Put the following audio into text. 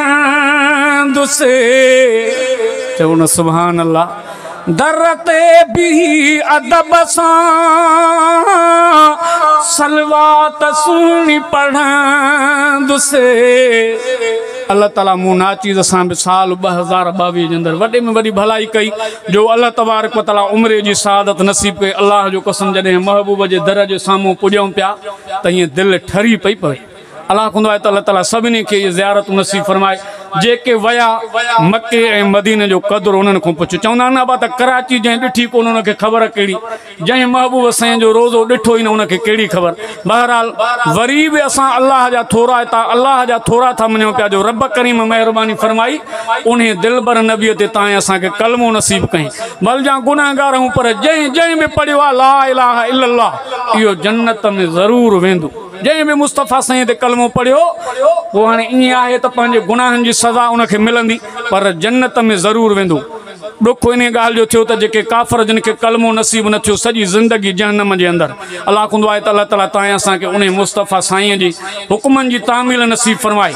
چاندس چئو نه سبحان الله در تي بيھي ادب سان صلوات سهڻي پڙهندس الله تعالي مون ناچيز سان به سال 2022 جي اندر وڏي ۾ وڏي ڀلائي ڪئي جو الله تبارڪ وتعالي عمر جي سعادت نصيب ڪئي الله جو قسم جڏهن محبوب جي در جي سامهون پڄيون پيا ته هيئن دل ٺري پئي پوي الله ڪندو آهي ته الله تعالي سڀني کي اهي زيارتون نصيب فرمائي جيڪي ويا مڪي ۽ مديني جو قدر انهن کان پڇ چوندا آهن نه ابا ته ڪراچي جنهن ڏٺي ڪونه ان کي خبر ڪهڙي جنهن محبوب سائين جو روزو ڏٺو ئي نه ان کي ڪهڙي خبر بهرحال وري به اسان الله جا ٿورا اتان الله جا ٿورا ٿا مڃون پيا جو رب ڪريم مهرباني فرمائي انهي دلبر نبي تي تانئين اسان کي ڪلمو نصيب ڪئين ڀل جان گنهگار هون پر جنهن جنهن به پڙهيو آهي لا اله الا الله اهو جنت ۾ ضرور ويندو. جنهن به مصطفيٰ سائين تي ڪلمو پڙهيو اهو هاڻي ائين آهي ته پنهنجي گناهن جي سزا ان کي ملندي پر جنت ۾ ضرور ويندو. ڏک انهيء ڳالهه جو ٿيو ته جيڪي ڪافر جن کي ڪلمو نصيب نه ٿيو سڄي زندگي جهنم جي اندر هلاڪ هوندو آهي ته الله تعاليٰ تانئن اسان کي انهي مصطفيٰ سائينء جي حڪمن جي تعميل نصيب فرمائي.